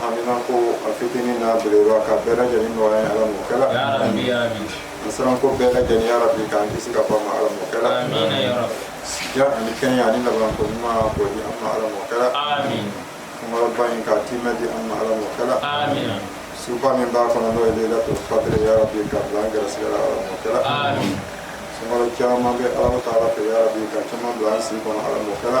haminanko a fitinin n'a belebeleba k'a bɛɛ lajɛlen nɔgɔya ye ala m'o kɛla masiranko bɛɛ lajɛlen ya rabi k'an kisi ka b'o ma ala m'o kɛla si jan ani kɛnɛya ani laban ko ɲuman k'o di an ma ala m'o kɛla sunkaloba in k'a tiimɛ di an ma ala m'o kɛla suba min b'a kɔnɔ n'o ye leilatul kadiri ya rabi k'a bila an gɛrɛsigɛ la ala m'o kɛla sunkalo caman bɛ ala taala fɛ ya rabi k'a caman bila an si kɔnɔ ala m'o kɛla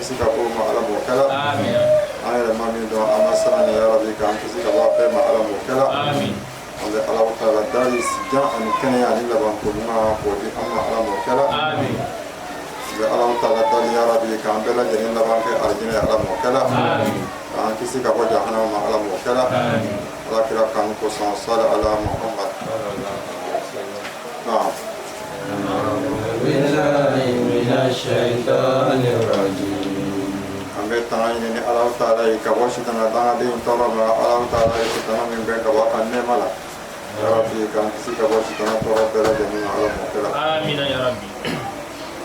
kisi ka b'o ma ala m'o kɛla an yɛrɛ ma min dɔn an masiran ni ya rabi k'an kisi ka bɔ a bɛɛ ma ala m'o kɛla an bɛ ala taala dali si jan ani kɛnɛya ani laban ko ɲuman k'o di an ma ala m'o kɛla an bɛ ala taala dali ya rabi k'an bɛɛ lajɛlen laban kɛ alijinɛ ala m'o kɛla k'an kisi ka bɔ jahanama ala m'o kɛla ala kira kanu kosɔn sali ala muhammad naam an bɛ tanga ɲini ala taala fɛ ka bɔ sitana dangaden tɔɔrɔ ma ala taala ye sitana min gɛn ka bɔ a nɛɛma la yarabi k'an kisi ka bɔ sitana tɔɔrɔ bɛɛ lajɛlen ma ala m'o kɛla amina yarabi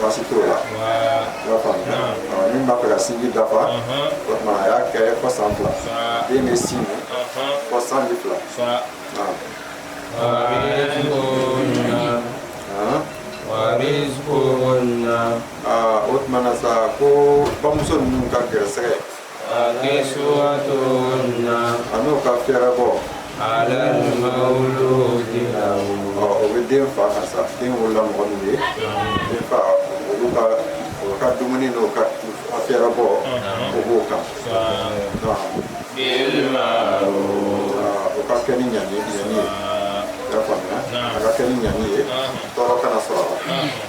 baasi t'o la i y'a faamu ni min b'a fɛ ka sinji dafa o tuma a y'a kɛ fo san fila den bɛ sin min fo san fila o tuma na sa ko bamuso ninnu ka gɛrɛsɛgɛ ani o ka fɛɛrɛbɔ o bɛ den fa kan sa den wolola mɔgɔ min ye den fa olu ka o ka dumuni n'o ka fɛɛrɛbɔ o b'o kan o ka kɛ ni ɲani ɲani ye i y'a faamuya a ka kɛ ni ɲani ye tɔɔrɔ kana sɔrɔ a la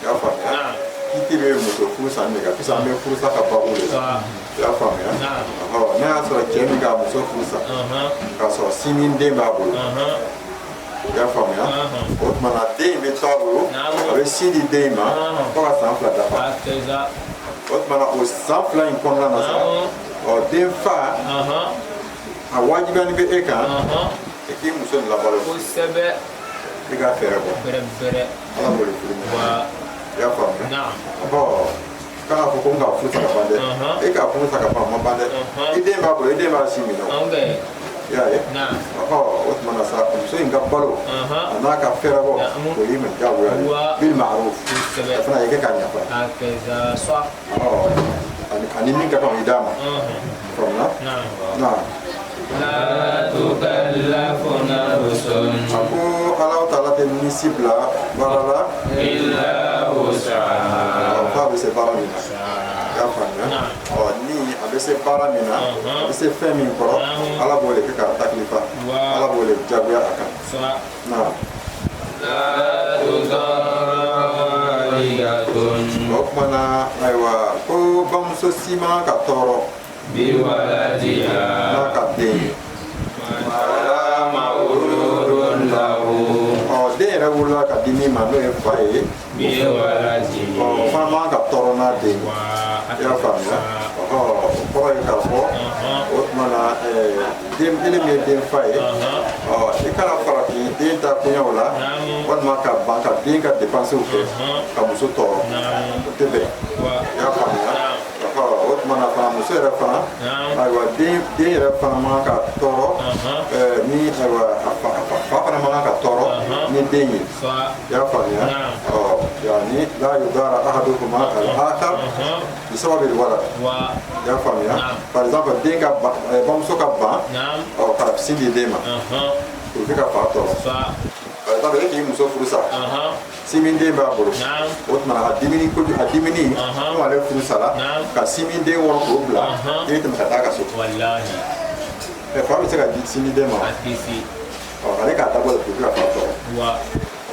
i y'a faamuya kiti bɛ muso furu sa de kan sisan an bɛ furu sa ka baabu de la i y'a faamuya n'a y'a sɔrɔ cɛ min k'a muso furu sa k'a sɔrɔ sini den b'a bolo i y'a faamuya o tuma na den in bɛ to a bolo a bɛ sin di den in ma fo ka san fila dafa o tuma na o san fila in kɔnɔna na sa ɔ den fa a wajibiyanin bɛ e kan i k'i muso labalo kosɛbɛ i k'a fɛɛrɛbɔ bɛrɛ bɛrɛ ala b'o de fɔ la i y'a faamuya bɔn kana fɔ ko n ka furu sa ka ban dɛ e ka furu sa ka ban ma ban dɛ i den b'a bolo i den b'a sin min na i y'a ye ɔ o tuma na sa muso in ka balo a n'a ka fɛɛrɛbɔ o y'i ma diyagoya ye bil ma'ruf o fana i kɛ k'a ɲɛfɔ a ye ani min ka kan i d'a ma faamuya na a ko ala taala tɛ ni si bila baara la f'a bɛ se baara min na y'a faamuya ɔ ni a bɛ se baara min na a bɛ se fɛn min kɔrɔ ala b'o de kɛ k'a taklifa ala b'o de jagoya a kan o tumana ayiwa ko bamuso si man ka tɔɔrɔ n'a ka den ye ɔ den yɛrɛ wolola ka di min ma n'o ye fa ye fana man kan ka tɔɔrɔ n'a den ye i y'a faamuya o kɔrɔ ye k'a fɔ o tuma na ile min ye den fa ye i kana farafin den ta koɲɛw la walima ka ban ka den ka depansiw kɛ ka muso tɔɔrɔ o tɛ bɛn i y'a faamuya o tumana fana muso yɛrɛ fana ayiwa den den yɛrɛ fana man kan ka tɔɔrɔ ni ayiwa a fa fana man kan ka tɔɔrɔ ni den ye ya faamuya yani la yudara ahaduhuma al-akhar bi sababi al-walad ya faamuya par exemple den ka bamuso ka ban ɔ ka sin di den ma o bɛ ka fa tɔɔrɔ par exemple e k'i muso furu sa sinmin den b'a bolo o tuma a diminen ko a diminen ko ale furu sara ka sinmin den wɔrɔ k'o bila e tɛmɛ ka taa ka so fa bɛ se ka di sinmin den ma ale k'a dabɔ de ka fa tɔɔrɔ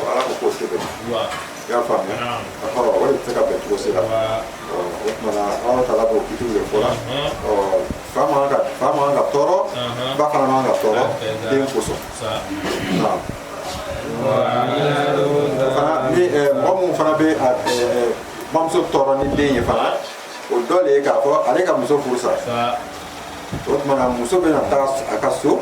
ala ko k'o tɛ bɛn i y'a faamuya a kɔrɔ o tɛ se ka bɛn cogo si la o tumana ala taala b'o kitiw de fɔ la fa man ka fa man ka tɔɔrɔ ba fana man ka tɔɔrɔ den kosɔn fana ni mɔgɔ minnu fana bɛ bamuso tɔɔrɔ ni den ye fana o dɔ de ye k'a fɔ ale ka muso furu sa o tumana muso bɛna taa a ka so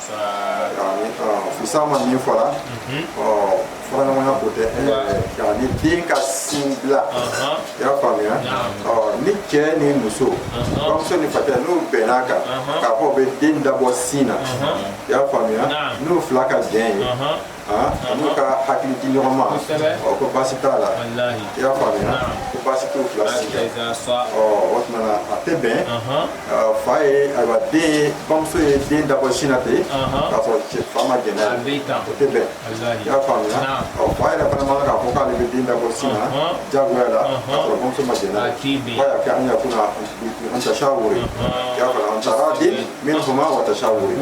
Sama min fɔra faraɲɔgɔnya ko tɛ yani den ka sin bila i y'a faamuya ni cɛ ni muso bamuso ni facɛ n'u bɛnna a kan k'a fɔ u bɛ den dabɔ sin na i y'a faamuya n'u fila ka jɛn ye Ah, ani ka hakili di ɲɔgɔn ma ɔ ko baasi t'a la i y'a faamuya ko baasi t'u fila si la ɔ o tuma na a tɛ bɛn fa ye ayiwa den ye bamuso ye den dabɔ sin na ten k'a sɔrɔ cɛ fa ma jɛn o tɛ bɛn i y'a faamuya ɔ fa yɛrɛ fana man kan k'a fɔ k'ale bɛ den dabɔ sin na jagoya la k'a sɔrɔ bamuso ma jɛn fa y'a kɛ an yakuna an tashawuri i y'a faamuya an taradin minhuma wa tashawuri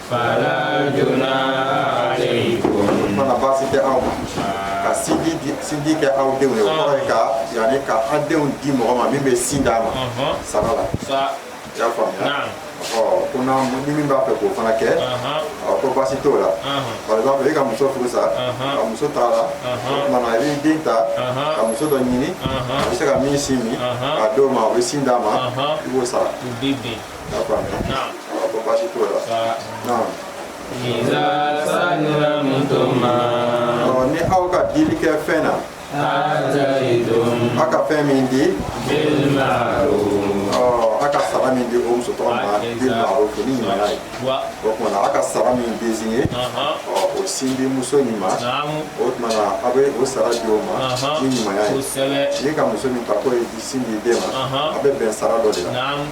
fana baasi tɛ aw ma ka sinji di- sinji kɛ aw denw ye o kɔrɔ ye ka yani ka an denw di mɔgɔ ma min bɛ sin d'a ma Ɔhɔn. sara la sa i y'a faamuya Naam. ɔ ko n'a ni min b'a fɛ k'o fana kɛ Ɔhɔn. a ko baasi t'o la Ɔhɔn. par exemple e ka muso furusa Ɔhɔn. ka muso taala Ɔhɔn. o tumana i b'i den ta Ɔhɔn. ka muso dɔ ɲini Ɔhɔn. a bɛ se ka min sin min Ɔhɔn. k'a d'o ma o bɛ sin d'a ma Ɔhɔn. i b'o sara u b'i bin ni aw ka dili kɛ fɛn na a ka fɛn min di a ka sara min di o muso tɔgɔ ma ni ɲumanya ye o tumana a ka sara min désigné o sin di muso in ma o tumana a bɛ o sara di o ma ni ɲumanya ye n'i ka muso min ta k'o ye sin di den ma a bɛ bɛn sara dɔ de la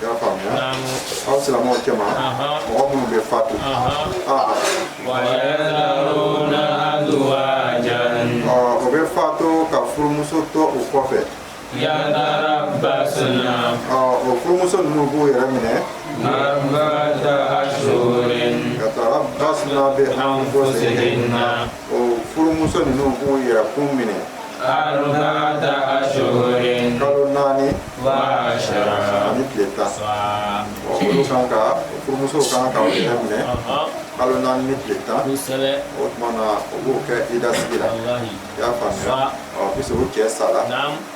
i y'a faamuya aw silamɛw cɛma mɔgɔ minnu bɛ fatu o bɛ fatu ka furumuso to u kɔfɛ o furumuso ninnu b'u yɛrɛ minɛ yatarabbasna bi anfusihinna ɔ furumuso ninnu k'u yɛrɛ kun minɛ arbaata ashhurin kalo naani wa ashara ani tile tan ɔ olu kan ka furumusow kan ka u yɛrɛ minɛ kalo naani ni tile tan kosɛbɛ o tuma na u b'o kɛ idasigi la walahi i y'a faamuya Sa. ɔ puisque u cɛ sara naam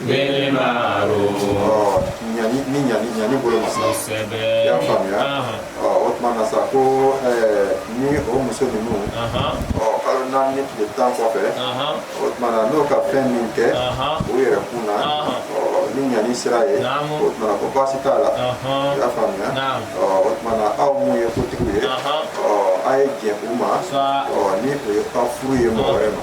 Ni bolo ma y'a faamuya o tuma sa ko ni o muso ninnu kalo naani ni tile tan kɔfɛ o tuma n'o ka fɛn min kɛ o yɛrɛ kun na ni ɲani sira ye o tuma ko baasi t'a la i y'a faamuya o tuma aw min ye kotigi ye aw ye jɛn u ma ni o ye ka furu ye mɔgɔ wɛrɛ ma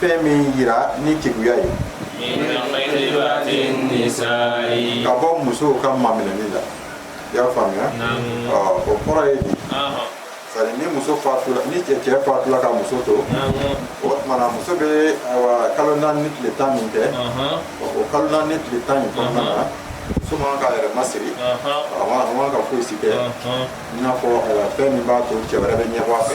fɛn min yira ni keguya ye ka bɔ musow ka maminɛni la i y'a faamuya o kɔrɔ ye di sa ni muso fatula ni cɛ cɛ fatula ka muso to o tumana muso bɛ ayiwa kalo naani ni tile tan min kɛ o kalo naani ni tile tan in kɔnɔna na muso man k'a yɛrɛ masiri a man ka foyi si kɛ i n'a fɔ fɛn min b'a to cɛ wɛrɛ bɛ ɲɛbɔ a fɛ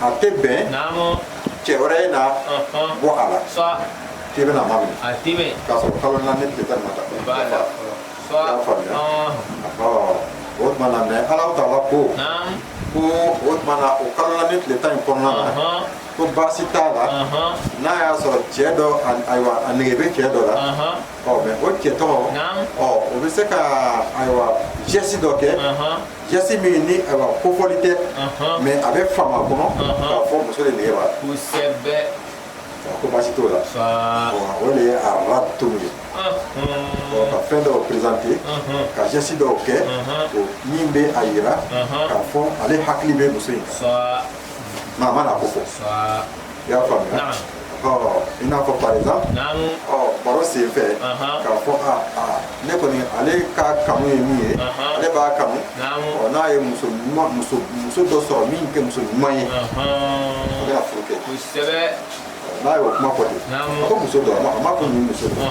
a tɛ bɛn cɛ wɛrɛ ye na bɔ a la k'i bɛn'a maminɛ k'a sɔrɔ kalo naani tile tan ma dafa y'a faamuya o tuma na mais Ala taala ko ko o tuma na o kalo naani tile tan in kɔnɔna na ko baasi t'a la n'a y'a sɔrɔ cɛ dɔ ayiwa a nege bɛ cɛ dɔ la ɔ mais o cɛ tɔgɔ ɔ o bɛ se ka ayiwa geste dɔ kɛ geste min ni a kofɔli tɛ mais a bɛ faamu a kɔnɔ k'a fɔ muso de nege b'a la kosɛbɛ ko baasi t'o la o de ye arradtum ye ka fɛn dɔw présenter ka geste dɔw kɛ min bɛ a yira k'a fɔ ale hakili bɛ muso in kan mais a mana ko fɔ i y'a faamuya i n'a fɔ par exemple ɔ baro sen fɛ k'a fɔ a a ne kɔni ale ka kanu ye min ye ale b'a kanu ɔ n'a ye muso ɲuman muso muso dɔ sɔrɔ min tɛ muso ɲuman ye a bɛna furu kɛ kosɛbɛ n'a y'o kuma fɔ ten a ko muso dɔ a ma ko nin muso dɔ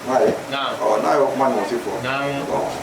n'a ye ɔ n'a y'o kuma ɲɔgɔn fɔ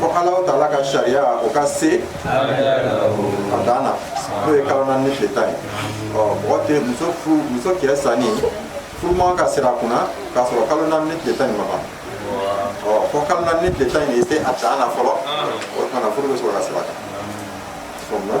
fo ala taala ka sariya o ka se a dan na n'o ye kalo naani ni tile tan ye mɔgɔ tɛ muso furu muso cɛ sanin furu man kan ka siri a kunna k'a sɔrɔ kalo naani ni tile tan in ma ban fo kalo naani ni tile tan in de se a dan na fɔlɔ o tuma na furu bɛ sɔrɔ ka siri a kan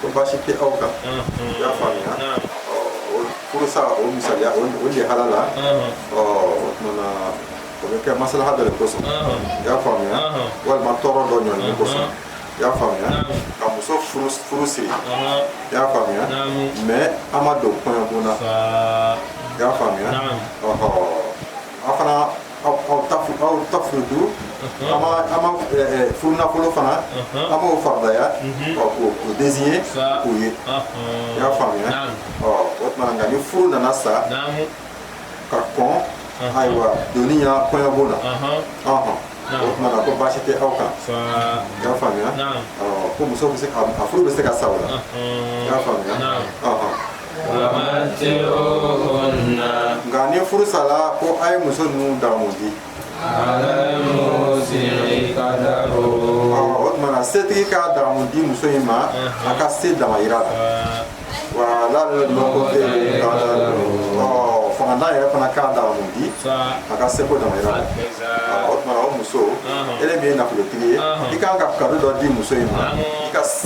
ko baasi tɛ aw kan i y'a faamuya ɔ o furusa o misaliya o o le halala ɔ o tumana o bɛ kɛ masalaha dɔ de kosɔn i y'a faamuya walima tɔɔrɔ dɔ ɲɔni kosɔn i y'a faamuya ka muso furu furu siri i y'a faamuya mais aw ma don kɔɲɔbon na i y'a faamuya ɔhɔ an fana aw tafridu aw ma furunafolo fana aw m'o faradaya k'o désigner k'o ye i y'a faamuya o tuma nka ni furu nana sa ka kɔn ayiwa donni ɲɛ kɔɲɔbon na o tuma na ko baasi tɛ aw kan i y'a faamuya ko muso bɛ se ka a furu bɛ se ka sa o la i y'a faamuya nka ni furu sala ko a ye muso ninnu damu di o tumana setigi ka damu di muso in ma a ka se damayira la wa alal muqtiri qadaruhu fangantan yɛrɛ fana ka damu di a ka seko damayira la o tuma o muso ele min ye nafolotigi ye i kan ka cadeau dɔ di muso in ma i ka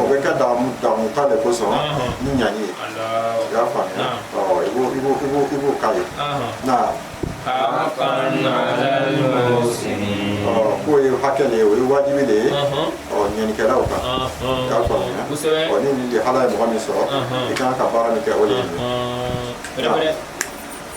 o bɛ kɛ damu damu ta de kosɔn ni ɲani ye i y'a faamuya ɔ i b'o i b'o i b'o i b'o k'a ye na ɔ k'o ye hakɛ de ye o ye wajibi de ye ɔ ɲanikɛlaw kan i y'a faamuya Kosɛbɛ. ɔ ni nin de hala ye mɔgɔ min sɔrɔ i kan ka baara min kɛ o de ye nin ye. Wɛrɛ wɛrɛ.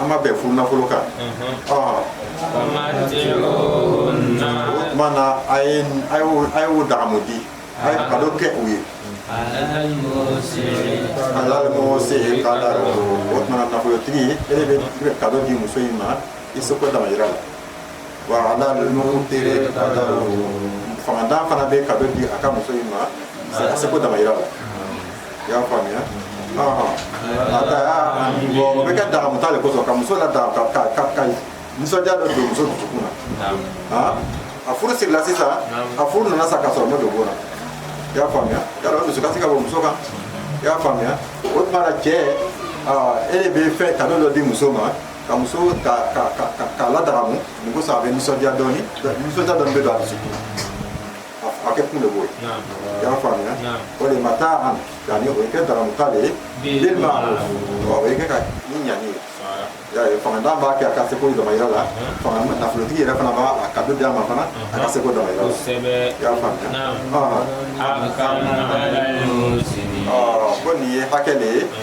a ma bɛn furu nafolo kan o tuma na a ye a ye o dagamu di a ye kado kɛ u ye alal musiyi kadaru o tuma na nafolotigi e de bɛ kado di muso in ma i seko damayira la fangantan fana bɛ kado di a ka muso in ma seko damayira la i y'a faamuya a taa o bɛ kɛ dagamuta de kosɔn ka muso ladagamu ka nisɔndiya dɔ don muso dusukun na a furu sigila sisan a furu nana sa ka sɔrɔ ma don bon na i y'a faamuya y'a dɔn dusukasi ka bɔ muso kan i y'a faamuya o tuma na cɛ e de bɛ fɛn kado dɔ di muso ma ka muso k'a ladagamu nin ko sa a bɛ nisɔndiya dɔɔni nisɔndiya dɔɔni bɛ don a dusukun na kɛ kun de b'o ye i y'a faamuya o de mataan yani o ye kɛ dagamuta de ye den ma o ye kɛ ka ni ɲani ye y'a ye fangantan b'a kɛ a ka seko damayira la fanga nafolotigi yɛrɛ fana b'a kado di a ma fana a ka seko damayira la i y'a faamuya ko nin ye hakɛ de ye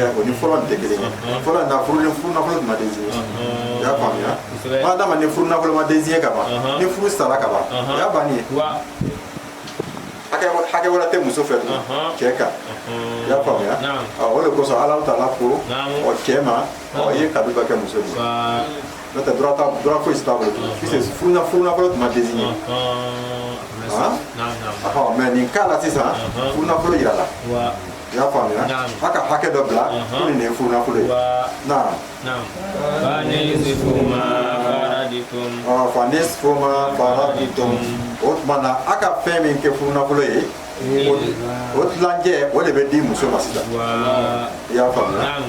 o ni fɔlɔ tɛ kelen ye fɔlɔ na furu ni furu nafolo tun ma dansigi i y'a faamuya ma d'a ma ni furu nafolo ma dansigi ka ban ni furu sara ka ban o y'a banni ye hakɛ wɛrɛ tɛ muso fɛ tugun cɛ kan i y'a faamuya o de kosɔn ala taala ko ɔ cɛ ma ɔ i ye kado ka kɛ muso ye n'o tɛ droit t'a droit foyi si t'a bolo tugun puisque furu nafolo tun ma dansigi mɛ nin cas la sisan furu nafolo yirala i y'a faamuya a ka hakɛ dɔ bila ko nin de ye furu nafolo ye naam fanisfu ma faraditum o tuma na a ka fɛn min kɛ furu nafolo ye o tilancɛ o de bɛ di muso ma sisan i y'a faamuya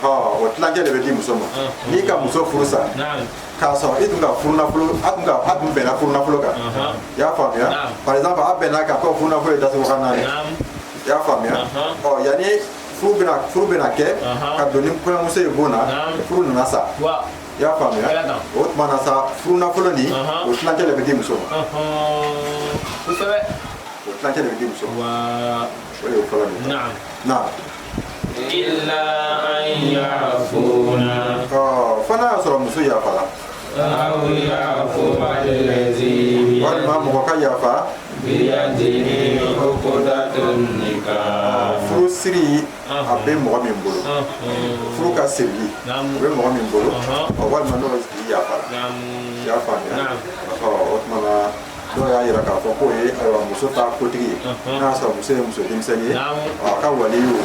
o tilancɛ de bɛ di muso ma n'i ka muso furu sa k'a sɔrɔ e tun ka furunafolo a tun ka a tun bɛnna furunafolo kan i y'a faamuya par exemple a bɛnna ka kɛ furunafolo ye datugu kan naani i y'a faamuya ɔ yanni furu bɛna furu bɛna kɛ ka don ni kɔɲɔmuso ye bon na furu nana sa i y'a faamuya o tuma na sa furu nafolo nin o tilancɛ de bɛ di muso ma o tilancɛ de bɛ di muso ma o de ye fɔlɔ nin ye na illa an yafuna ɔ fo n'a y'a sɔrɔ muso yafala walima mɔgɔ ka yafa furu siri a bɛ mɔgɔ min bolo furu ka sirili a bɛ mɔgɔ min bolo walima n'o tigi yafara i y'a faamuya o tuma na dɔw y'a yira k'a fɔ k'o ye ayiwa muso ta kotigi ye n'a y'a sɔrɔ muso ye muso denmisɛnnin ye a ka waliyu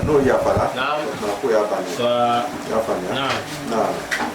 n'o yafara o tuma k'o y'a bannen i y'a faamuya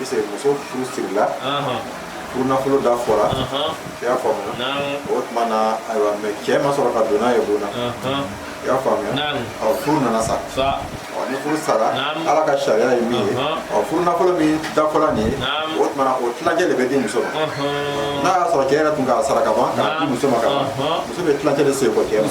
Ese muso furu sirila furu nafolo da fɔra i y'a faamuya o tuma na ayiwa mais cɛ ma sɔrɔ ka don n'a ye bon na i y'a faamuya ɔ furu nana sa ɔ ni furu sara ala ka sariya ye min ye ɔ furu nafolo min da fɔra nin ye o tuma na o tilancɛ de bɛ di muso ma n'a y'a sɔrɔ cɛ yɛrɛ tun k'a sara ka ban k'a di muso ma ka ban muso bɛ tilancɛ de segin kɔ cɛ ma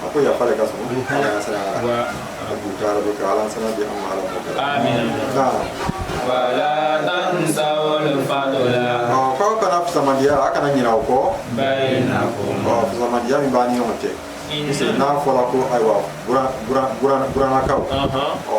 a ko yafa de ka surun ala ɲɛsiran na wa a b'u ka arabu kɛ ala ɲɛsiran di an ma ala m'o kɛ amin nka wala tansawul fadla ɔ ko aw kana fisamandiya a kana ɲinɛ o kɔ bayinakum ɔ fisamandiya min b'a ni ɲɔgɔn cɛ n'a fɔra ko ayiwa buranakaw ɔ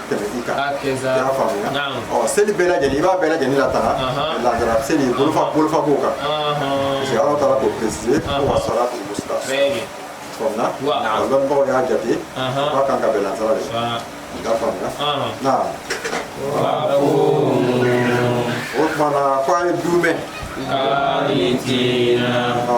tɛmɛti kan y'a faamuya ɔ seli bɛɛ lajɛlen i b'a bɛɛ lajɛlen latanga lagansara seli bolofa bolofa b'o kan parce que ala taala y'o préciser ko wa salatul wusta faamuya a lɔnnibagaw y'a jate o ka kan ka bɛn lansara de ma i ka faamuya na o tumana ko a ye dumɛn ɔ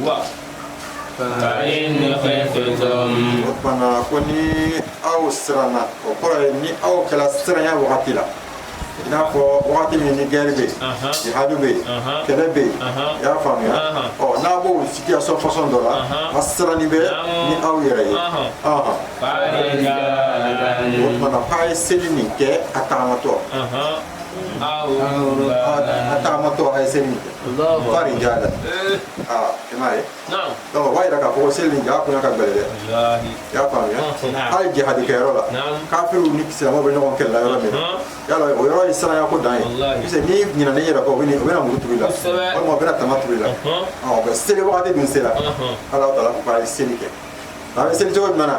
wa fa in khiftum o tuma ko ni aw siranna o kɔrɔ ye ni aw kɛra siranya wagati la i n'a fɔ wagati min ni guerre bɛ yen jihadu bɛ yen kɛlɛ bɛ yen i y'a faamuya ɔ n'a b'o situation façon dɔ la a siranni bɛ ni aw yɛrɛ ye o tuma na k'a ye seli nin kɛ a taamatɔ taamatɔ a ye seli fa rijalan aa i m'a ye donc o b'a yira k'a fɔ ko seli nin jɔkun ka gɛlɛn dɛ i y'a faamuya hali jihadi kɛ yɔrɔ la kafiriw ni silamɛw bɛ ɲɔgɔn kɛlɛ la yɔrɔ min na yala o yɔrɔ ye siranya ko dan ye parce que n'i ɲinana i yɛrɛ kɔ o bɛ na muru turu i la walima o bɛna tama turu i la ɔ seli wagati dun sera ala taala ko k'a ye seli kɛ a bɛ seli cogo jumɛn na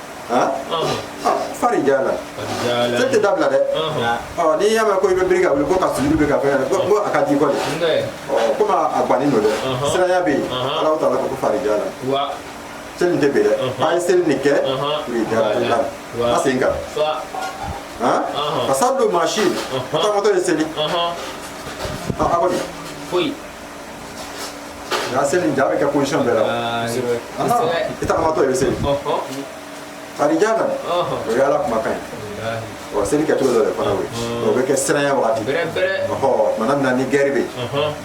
han fa rijalan seli tɛ dabila dɛ n'i y'a mɛn ko i bɛ biri ka wuli ko ka sujudi bɛ ka fɛn ko a ka di kɔni komi a bannen don dɛ siranya bɛ yen ala taala ko fa rijalan seli tɛ bin dɛ a ye seli nin kɛ fa rijalan a sen kan ka sa don mansin a taamatɔ a ye seli a kɔni foyi Nka seli in ja bɛ kɛ position bɛɛ la i tagamatɔ i bɛ seli farijana o ye ala kumakan ye ɔ seli kɛcogo dɔ de fana bɛ yen o bɛ kɛ siranya wagati ɔ tuma min na ni gɛri bɛ yen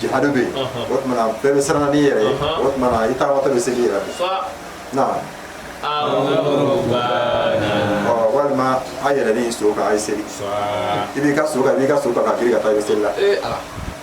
jihadu bɛ yen o tuma na bɛɛ bɛ siran n'i yɛrɛ ye o tuma na i tagamatɔ bɛ seli i yɛrɛ sen na walima a yɛlɛlen so kan a ye seli i b'i ka so kan i b'i ka so kan ka girin ka taa i bɛ seli la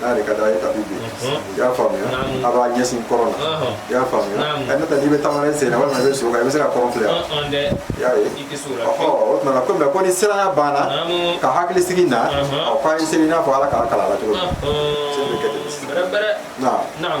n'a yɛrɛ ka d'a ye tapi bɛ yen i y'a faamuya a b'a ɲɛsin kɔrɔn na i y'a faamuya ɛ n'o tɛ n'i bɛ taama na i sen na walima i bɛ so kan i bɛ se ka kɔrɔn filɛ yan i y'a ye ɔ o tuma na ko mɛ ko ni siranya banna ka hakili sigi na ɔ k'aw ye seli i n'a fɔ ala k'aw kalan a la cogo min seli bɛ kɛ ten sisan naam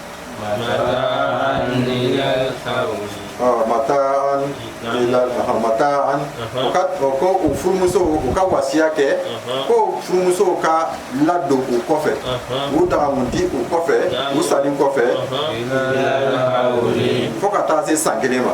mataan mataan u ka ko u furumusow u ka wasiya kɛ ko furumusow ka ladon u kɔfɛ u dagamu di u kɔfɛ u salen kɔfɛ fo ka taa se san kelen ma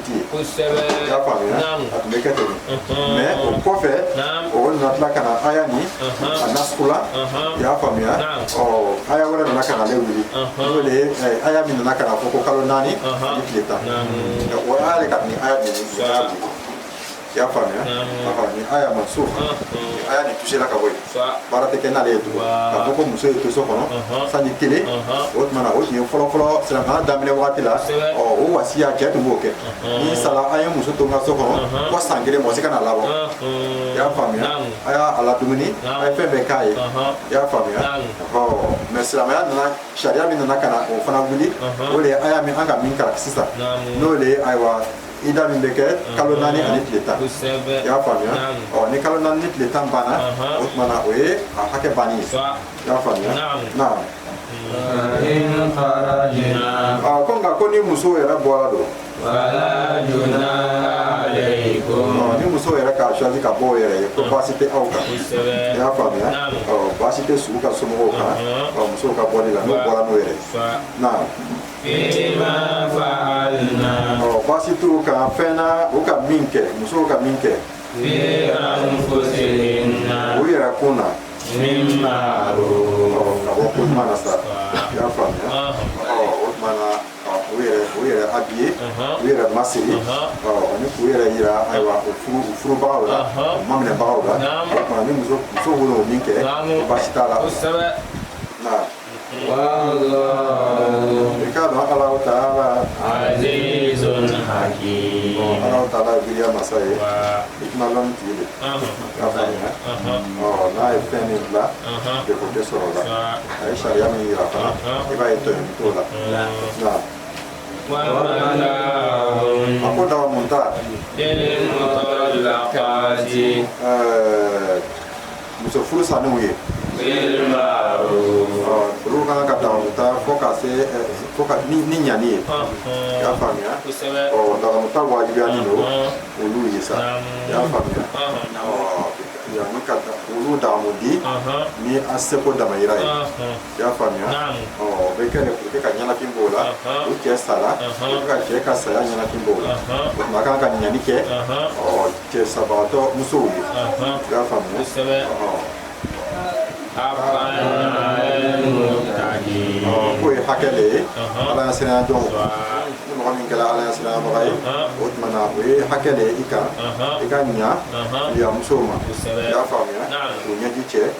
kosɛbɛ i y'a faamuya Naamu. a tun bɛ kɛ ten Unhun. mais o kɔfɛ Naamu. o nana tila ka na aya ni Unhun. a nasuku la Unhun. i y'a faamuya Naamu. ɔ aya wɛrɛ nana ka na ale wuli Unhun. n'o de ye eh, aya min nana ka na fɔ ko kalo naani Unhun. ani tile tan Naamu. o aya de ka di ni aya de ye Sa. y'a faamuya ni aya ma so aya ni touché la ka bɔ yen baara tɛ kɛ n'ale ye tugun ka fɔ ko muso ye to so kɔnɔ sanji kelen o tuma na o tun ye fɔlɔfɔlɔ silamɛya daminɛ wagati la ɔ o wasiya cɛ tun b'o kɛ ni n sala aw ye muso to n ka so kɔnɔ fo san kelen mɔgɔ si kan'a labɔ i y'a faamuya a y'a a ladumuni a ye fɛn bɛɛ k'a ye i y'a faamuya ɔ mɛ silamɛya nana sariya min nana ka na o fana wuli o de ye aya min an ka min kalan sisan n'o de ye ayiwa ida min bɛ kɛ kalo naani ani tile tan i y'a faamuya ɔ ni kalo naani ni tile tan banna o tuma na o ye a hakɛ banni ye i y'a faamuya naam ko nka ko ni muso yɛrɛ bɔra don ni muso yɛrɛ k'a choisi ka bɔ o yɛrɛ ye ko baasi tɛ aw kan i y'a faamuya baasi tɛ su ka somɔgɔw kan musow ka bɔli la n'u bɔra n'u yɛrɛ ye naam t'u kan fɛn na u ka min kɛ musow ka min kɛ u yɛrɛ kun na ka bɔ ko ɲuman na sa i y'a faamuya o tuma na u yɛrɛ u yɛrɛ habillé u yɛrɛ masiri ani k'u yɛrɛ yira ayiwa u furu furubagaw la u maminɛbagaw la o tuma ni muso muso wolo o min kɛ baasi t'a la I k'a dɔn ala taala ala taala gya masa ye hikima tigi de k'a fɔ n'a ye fɛn min bila de ko tɛ sɔrɔ la a ye sariya min jira fana i b'a ye to to la a ko dagamu ta muso furu salenw ye olu ka kan ka dagamu ta fo ka se eh, fo ka ni ni ɲani ye i y'a faamuya ɔ dagamu ta wajibiyalen don olu ye sa i y'a faamuya ɔ yanni ka da- olu dagamu di ni an seko damayira ye i y'a faamuya ɔ o bɛ kɛ de pour que ka ɲɛnafin bɔ u la u cɛ sara pour que ka cɛ ka saya ɲɛnafin bɔ u la o tuma kan ka ɲani kɛ ɔ cɛ sabagatɔ musow ye i y'a faamuya k'o ye hakɛ de ye ala ɲasiranya don ni mɔgɔ min kɛra ala ɲasiranyabaga ye o tuma na o ye hakɛ de ye i kan i ka ɲa musow ma i y'a faamuya k'u ɲɛji cɛ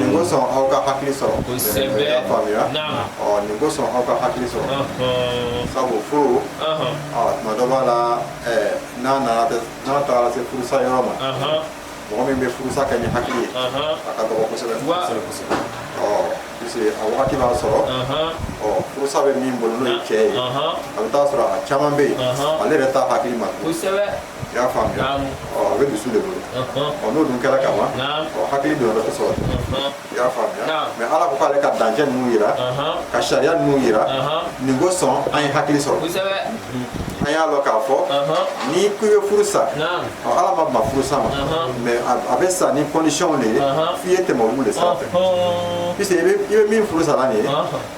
nin kosɔn aw ka hakili sɔrɔ y'a faamuya nin kosɔn aw ka hakili sɔrɔ sabu furu tuma dɔ b'a la n'a nana n'a taara se furusa yɔrɔ ma mɔgɔ min bɛ furusa kɛ ni hakili ye a ka dɔgɔ kosɛbɛ kosɛbɛ puisque a wagati b'a sɔrɔ ɔ furusa bɛ min bolo n'o ye cɛ ye a bɛ t'a sɔrɔ a caman bɛ yen ale yɛrɛ t'a hakili ma i y'a faamuya Naamu. ɔ a bɛ dusu de bolo Ɔhɔn. ɔ n'o dun kɛra ka ban Naamu. ɔ hakili donna dɔ sɔrɔ Ɔhɔn. i y'a faamuya Naamu. mɛ ala ko k'ale ka dancɛ ninnu jira Ɔhɔn. ka sariya ninnu jira Ɔhɔn. nin kosɔn an ye hakili sɔrɔ Kosɛbɛ. an y'a lɔn k'a fɔ Ɔhɔn. n'i ko i bɛ furu sa Naamu. ɔ ala ma ban furu sa ma Ɔhɔn. mɛ a- a bɛ sa ni kɔndisiyɔnw de ye Ɔhɔn. f'i ye tɛmɛ olu de sira fɛ Ɔhɔn. puisque i bɛ i bɛ min furu sa la nin ye Ɔhɔn.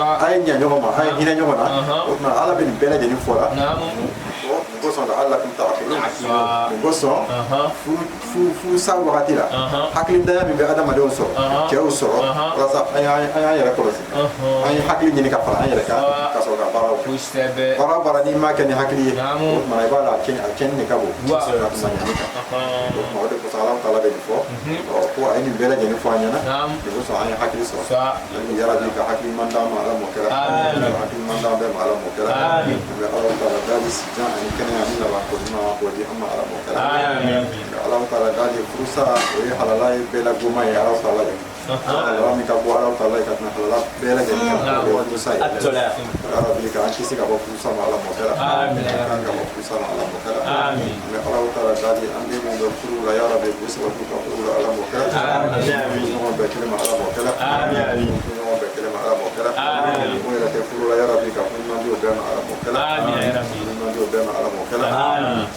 a ye ɲa ɲɔgɔn ma a ye hinɛ ɲɔgɔn na o tuma ala bɛ nin bɛɛ lajɛlen fɔ la nin kosɔn laalakum taakilun nin kosɔn furusa wagati la hakili dɔgɔya min bɛ adamadenw sɔrɔ cɛw sɔrɔ walasa an y'an yɛrɛ kɔlɔsi an ye hakili ɲini ka fara an yɛrɛ kan ka sɔrɔ ka baaraw kɛ baara baara n'i m'a kɛ ni hakili ye o tuma i baara cɛnni de ka bon ka tɛmɛ ɲani kan o tuma o de kosɔn ala taala bɛ nin fɔ ko a ye nin bɛɛ lajɛlen fɔ an ɲɛna de ko sa an ye hakili sɔrɔ ani yarabi ka hakili ɲuman d'an ma ala m'o kɛra hakili ɲuman d'an bɛɛ ma ala m'o kɛra an bɛ ala taala dali sijan ani kɛnɛya ni laban ko ɲuman na k'o di an ma ala m'o kɛra ala taala dali furusa o ye halala ye bɛɛ la goman ye ala taala de halala min ka go ala taala ye ka tɛmɛ halala bɛɛ lajɛlen kan o ye furusa ye yarabi ka an kisi ka bɔ furu sama ala m'o kɛra Amin. ala ka mɔkuru sama ala m'o kɛra Amin. an bɛ alahu taala dali an den minnu bɛ furu la ya rabi k'u sabati u ka furu la ala m'o kɛra Amin. ɲɔgɔn bɛɛ kelen ma ala m'o kɛra Amin. ɲɔgɔn bɛɛ kelen ma ala m'o kɛra Amin. minnu yɛrɛ tɛ furu la ya rabi ka ɲuman di o bɛɛ ma ala m'o kɛra Amin. ɲuman di o bɛɛ ma ala m'o kɛra Amin.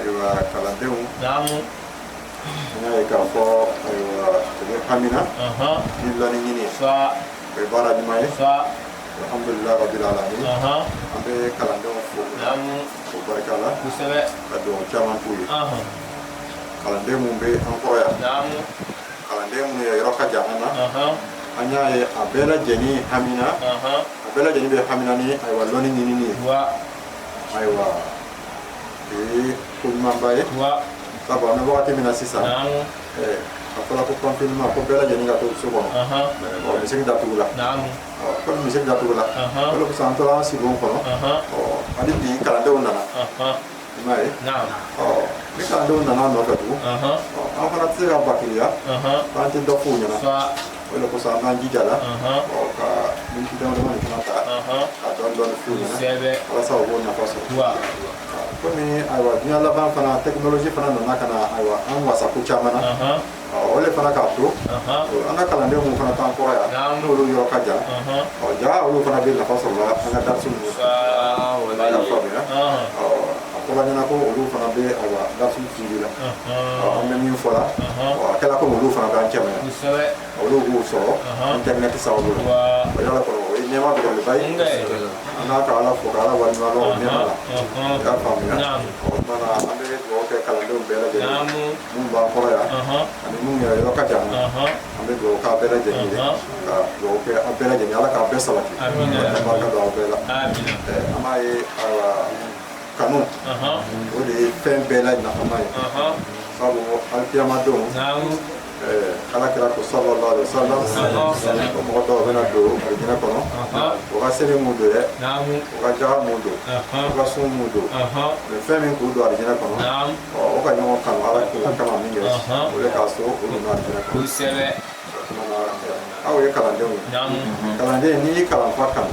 ayiwa kalandenw naamu an y'a ye k'a fɔ ayiwa u bɛ hamina ahan ni lɔnni ɲini sa o ye baara ɲuman ye sa alhamdulilayi rabbil alamin ahan an bɛ kalandenw fo naamu o barika la kosɛbɛ ka dugawu caman k'u ye ahan kalanden minnu bɛ an kɔrɔ yan naamu kalanden minnu yɔrɔ ka jan an na ahan an y'a ye a bɛɛ lajɛlen hamina ahan a bɛɛ lajɛlen bɛ hamina ni ayiwa lɔnni ɲinini ye wa ayiwa ee ko ɲumanba ye sabu an bɛ wagati min na sisan a fɔra ko confinement ko bɛɛ lajɛlen ka to so kɔnɔ ɔ misiri datugu la komi misiri datugu la o de kosɔn an tora an sow kɔnɔ ɔ hali bi kalandenw nana i m'a ye ɔ ni kalandenw nana nɔfɛ tugun ɔ an fana tɛ se ka bakiliya k'an tɛ dɔ f'u ɲɛna o de kosɔn an k'an jija la ka miniti dama dama fana ta ka dɔɔni dɔɔni f'u ɲɛna walasa u k'o nafa sɔrɔ komi ayiwa diɲɛ laban fana tɛkinoloji fana nana ka na ayiwa an wasa ko caman na o de fana k'a to an ka kalanden minnu fana t'an kɔrɔ yan n'olu yɔrɔ ka jan ɔ ja olu fana bɛ nafa sɔrɔ la an ka darisi ninnu fɛ u b'a lafaamuya a ko an ɲɛna ko olu fana bɛ ayiwa darisi la an bɛ min fɔ la a kɛra ko olu fana b'an cɛma olu b'o sɔrɔ internet sa olu la kɔrɔ o ye nɛma belebeleba ye an n'a ka ala fo ka ala waleɲuman lɔn ka faamuya o tuma na an bɛ dugawu kɛ kalandenw bɛɛ lajɛlen minnu b'an kɔrɔ yan ani minnu yɛrɛ yɔrɔ ka jan an bɛ dugawu k'a bɛɛ lajɛlen ye ka dugawu kɛ an bɛɛ lajɛlen ye ala k'a bɛɛ sabati barika don aw bɛɛ la an b'a ye kanu o de ye fɛn bɛɛ la nafama ye sabu alkiyama don ala kira ko sallallahu alaihi wasallam ko mɔgɔ dɔw bɛna don alijinɛ kɔnɔ u ka seli m'u don dɛ u ka jaka m'u don u ka sun m'u don mais fɛn min k'u don alijinɛ kɔnɔ u ka ɲɔgɔn kanu ala kama min kɛ o de kosɔn u donna alijinɛ kɔnɔ aw ye kalandenw ye kalanden n'i y'i kalanfa kanu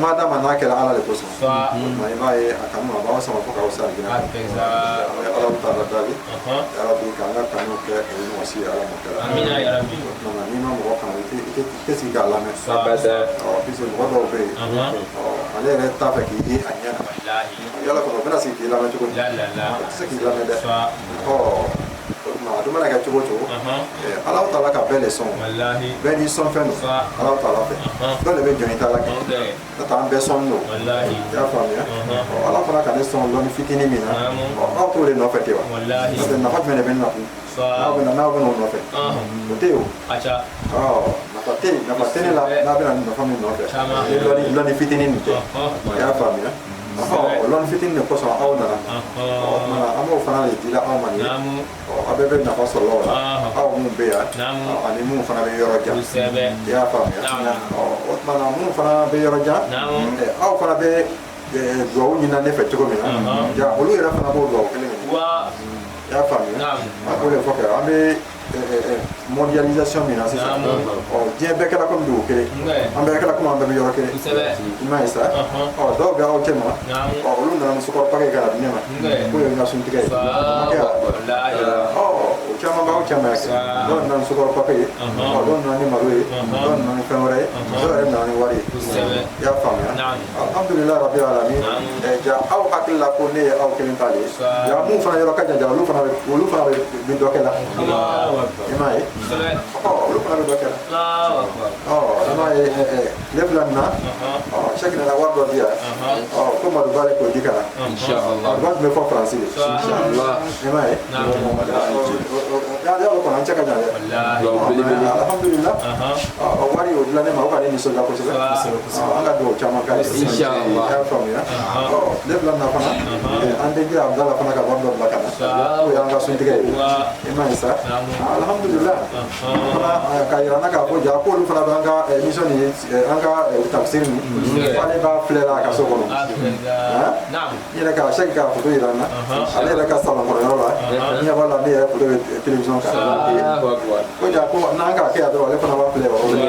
mad'a ma n'a kɛra ala de kosɔn nka i b'a ye a kanu a b'aw sama fo k'aw se alijinɛ an bɛ alahu taala dali ya rabi k'an ka kanu kɛ o ɲɔgɔn si ye ala m'o kɛra tuma n'i ma mɔgɔ kanu i tɛ sigi k'a lamɛn puisque mɔgɔ dɔw bɛ yen ale yɛrɛ t'a fɛ k'i ye a ɲɛ na yala kɔnɔ o bɛna sigi k'i lamɛn cogo di o tɛ se k'i lamɛn dɛ a dun mana kɛ cogo o cogo ala taala ka bɛɛ de sɔn bɛɛ n'i sɔn fɛn don ala taala fɛ dɔ de bɛ jɔn i ta la kɛ n'o tɛ an bɛɛ sɔn don i y'a faamuya ala taala ka ne sɔn lɔnni fitinin min na aw b'o de nɔfɛ tɛ wa n'o tɛ nafa jumɛn de bɛ ne na kun n'aw bɛna n'aw bɛna o nɔfɛ o tɛ yen o nafa tɛ yen nafa tɛ ne la n'aw bɛna nafa min nɔfɛ ni lɔnni fitinin nin tɛ i y'a faamuya o lɔnni fitini de kosɔn aw nana o tuma na an b'o fana de di la aw ma nin ye ɔ aw bɛɛ bɛ nafa sɔrɔ o la aw minnu bɛ yan ani minnu fana bɛ yɔrɔ jan i y'a faamuya ɔ o tuma na minnu fana bɛ yɔrɔ jan aw fana bɛ dugawu ɲinina ne fɛ cogo min na ja olu yɛrɛ fana b'o dugawu kelen ɲini i y'a faamuya a k'o de fɔ kɛ an bɛ mondialisation min na sisan diɲɛ bɛɛ kɛra komi dugu kelen an bɛɛ kɛra komi an bɛɛ bɛ yɔrɔ kelen i m'a ye sa dɔw bɛ aw cɛma olu nana ni sukaro pake k'a di ne ma k'o ye n ka suntigɛ ye o caman b'aw cɛma yan dɔw nana ni sukaro pake ye dɔw nana ni malo ye dɔw nana ni fɛn wɛrɛ ye dɔw yɛrɛ nana ni wari ye i y'a faamuya alhamdulillah rabbil alamin eh, ja aw hakili la ko ne ye aw kelen ta de ye ja minnu fana yɔrɔ ka jan ja olu fana bɛ olu fana bɛ dɔ kɛ la i m'a ye ɔ olu fana bɛ dɔ kɛ la ɔ i m'a ye eh, eh, ne filɛ nin na ɔ sɛki nana wari dɔ di yan ɔ ko madu ba de k'o di ka na madu ba dun bɛ fo faransi de i m'a ye Na'am. ala y'a lɔn ko an cɛ ka jan dɛ Wallahi. Dugawu belebele. alhamdulila Aha. o wari o dila ne ma o ka ne nisɔndiya kosɛbɛ Kosɛbɛ, kosɛbɛ. Ɔ, an ka dugawu caman k'a ye Inshallah. i y'a faamuya Ɔ, ne filɛ nin na fana eh, an denkɛ abudala fana ka wari dɔ bila ka na Sa- k'o y'an ka suntigɛ ye Wa. i m'a ye sa Na'am. alhamdulila Aha. fana eh, k'a yira n na k'a fɔ ja k'olu fana bɛ an ka eh, émission ni eh, an ka eh, tafsiri nin k'ale b'a filɛ la a ka so kɔnɔ Alhamdulillah. Na'am. n yɛrɛ ka sɛki k'a foto yira n na ale yɛrɛ ka salon kɔnɔ yɔrɔ la n ɲɛ b'a la ne yɛrɛ foto bɛ télévision kan ko ja ko n'an k'a kɛ yan dɔrɔn ale fana b'a filɛ yɔrɔ la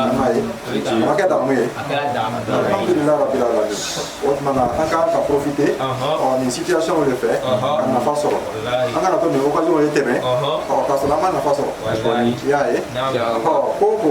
i m'a ye a ma kɛ damu ye alhamdulilayi rabil alamin o tuma na an k'an ka profiter ɔ nin situation de fɛ ka nafa sɔrɔ an kana to nin occasion ye tɛmɛ ɔ k'a sɔrɔ an ma nafa sɔrɔ i y'a ye ɔ ko o ko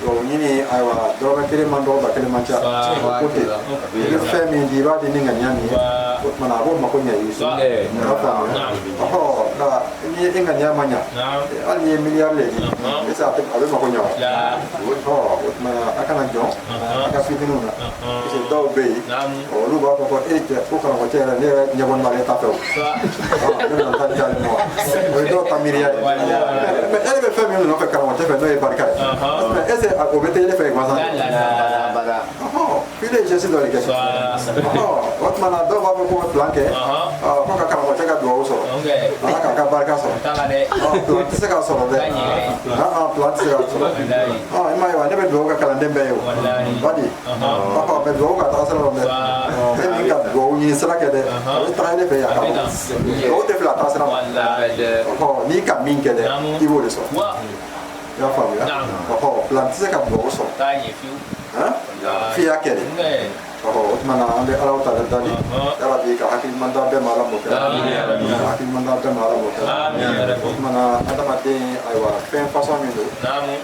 Bon ɲini ayiwa dɔrɔmɛ kelen man dɔgɔ ba kelen man ca Ba- ko ba- ten ba- i bɛ fɛn min di i b'a di ni ŋaniya min ye Ba- o tuma na a b'o mako ɲɛ i ye Ba- Eh, i b'a faamu Naam. ɔhɔ nka ni e ŋaniya ma ɲa Naam. hali n'i ye miliyari de di Naam. est-ce que a tɛ- a bɛ mako ɲa wa La. ɔhɔ o tuma na a kana jɔn Naam. a ka fitininw na Naam. parce que dɔw bɛ yen Naam. olu b'a fɔ ko e cɛ ko karamɔgɔ cɛ yɛrɛ ne yɛrɛ ɲɛbɔ n'ale ta fɛ o ne nana taa jaabi ma o ye dɔw ka miiriya ye mɛ e bɛ fɛn min nɔfɛ karamɔgɔ cɛ fɛ n'o ye barika ye mɛ e se o bɛ teli ne fɛ gansan f'i de ye geste dɔ de kɛ o tuma na dɔw b'a fɔ ko plan kɛ ko ka karamɔgɔ cɛ ka dugawu sɔrɔ wala k'a ka barika sɔrɔ plan tɛ se k'a sɔrɔ dɛ plan tɛ se k'a sɔrɔ i m'a ye wa ne bɛ dugawu kɛ kalanden bɛɛ ye o badi bɛ dugawu ka taga sira dɛ ne ka dugawu ɲini sira kɛ dɛ a bɛ taga ne fɛ yan dugawu tɛ fila taga sira ma n'i ka min kɛ dɛ i b'o de sɔrɔ i y'a faamuya ɔhɔ plan tɛ se ka dugawu sɔrɔ f'i y'a kɛ de o tuma na an bɛ ala taala dali yarabi ka hakiliman d'an bɛɛ ma ala m'o kɛ ka hakiliman d'an bɛɛ ma ala m'o kɛ o tuma na adamaden ayiwa fɛn fasɔn min don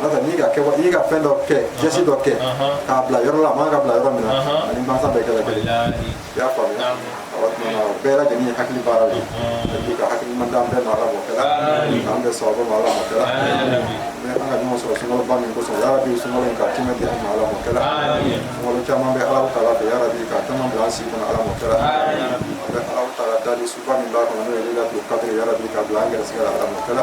n'o tɛ n'i ka kɛ i ka fɛn dɔ kɛ geste dɔ kɛ k'a bila yɔrɔ la a man ka bila yɔrɔ min na ani mansa bɛɛ kɛra kelen i y'a faamuya o tumana o bɛɛ lajɛlen ye hakili baara de yarabi ka hakiliman d'an bɛɛ ma ala m'o kɛra k'an bɛɛ sababu ma ala m'o kɛra mɛ an ka ɲɔgɔn sɔrɔ sunkaloba min kosɔn yarabi sunkalo in ka tɛmɛ di an ma ala m'o kɛra sunkalo caman bɛ alahu taala fɛ yarabi ka caman bila an si kɔnɔ ala m'o kɛra an bɛ alahu taala dali suba min b'a kɔnɔ n'o ye lelatul kadiri yarabi k'a bila an gɛrɛsɛgɛ la ala m'o kɛra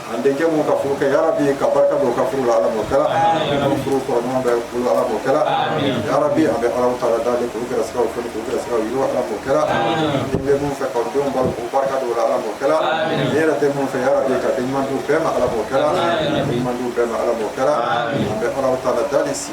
An denkɛ mun ka furu kɛ yarabi ka barika don u ka furu la ala m'o kɛra furu tɔnɔ bɛ bolo ala m'o kɛra yarabi an bɛ alahu taala dali k'u gɛrɛsɛgɛ foni k'u gɛrɛsɛgɛ yiriwa ala m'o kɛra den bɛ mun fɛ ka denw balo ka barika don u la ala m'o kɛra den yɛrɛ tɛ mun fɛ yarabi ka den ɲuman d'u bɛɛ ma ala m'o kɛra ɲuman d'u bɛɛ ma ala m'o kɛra an bɛ alahu taala dali sigi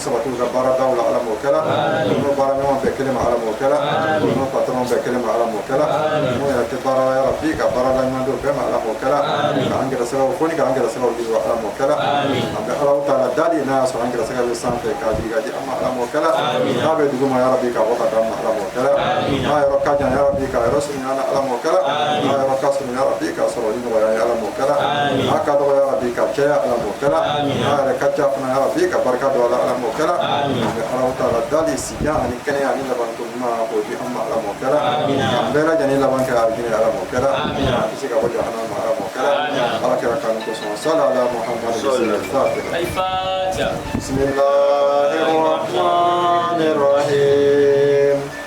sabati u ka baaradaw la ala m'o kɛla u n'u baara ɲɔgɔn bɛn kelen ma ala m'o kɛla u n'u patɔrɔn bɛn kelen ma ala m'o kɛla n'o yɛrɛ tɛ baara la yarabi ka baarada ɲuman d'u bɛɛ ma ala m'o kɛla k'an gɛrɛsɛgɛw foni k'an gɛrɛsɛgɛw yiriwa ala m'o kɛla an bɛ alahu taala dali n'a y'a sɔrɔ an gɛrɛsɛgɛ bɛ sanfɛ k'a jigi k'a di an ma ala m'o kɛla n'a bɛ duguma yarabi k'a bɔ k'a d'an ma ala m'o kɛla n'a yɔrɔ ka jan yarabi k'a yɔrɔ an na ala m'o kɛla ala ka sɔrɔ ya rabi k'a sɔrɔ ni nɔgɔya ye ala m'o kɛla a ka dɔgɔ ya rabi k'a caya ala m'o kɛla a yɛrɛ ka ca fana ya rabi ka barika don a la ala m'o kɛla an bɛ alahu taala dali si jan ani kɛnɛya ani labanko ɲuman o di an ma ala m'o kɛla an bɛɛ lajɛlen laban kɛ alijinɛ ala m'o kɛla an kisi ka bɔ jahanama ma ala m'o kɛla ala kira kanu kosɔn sala ala muhammadu bisimilahi rahmani rahim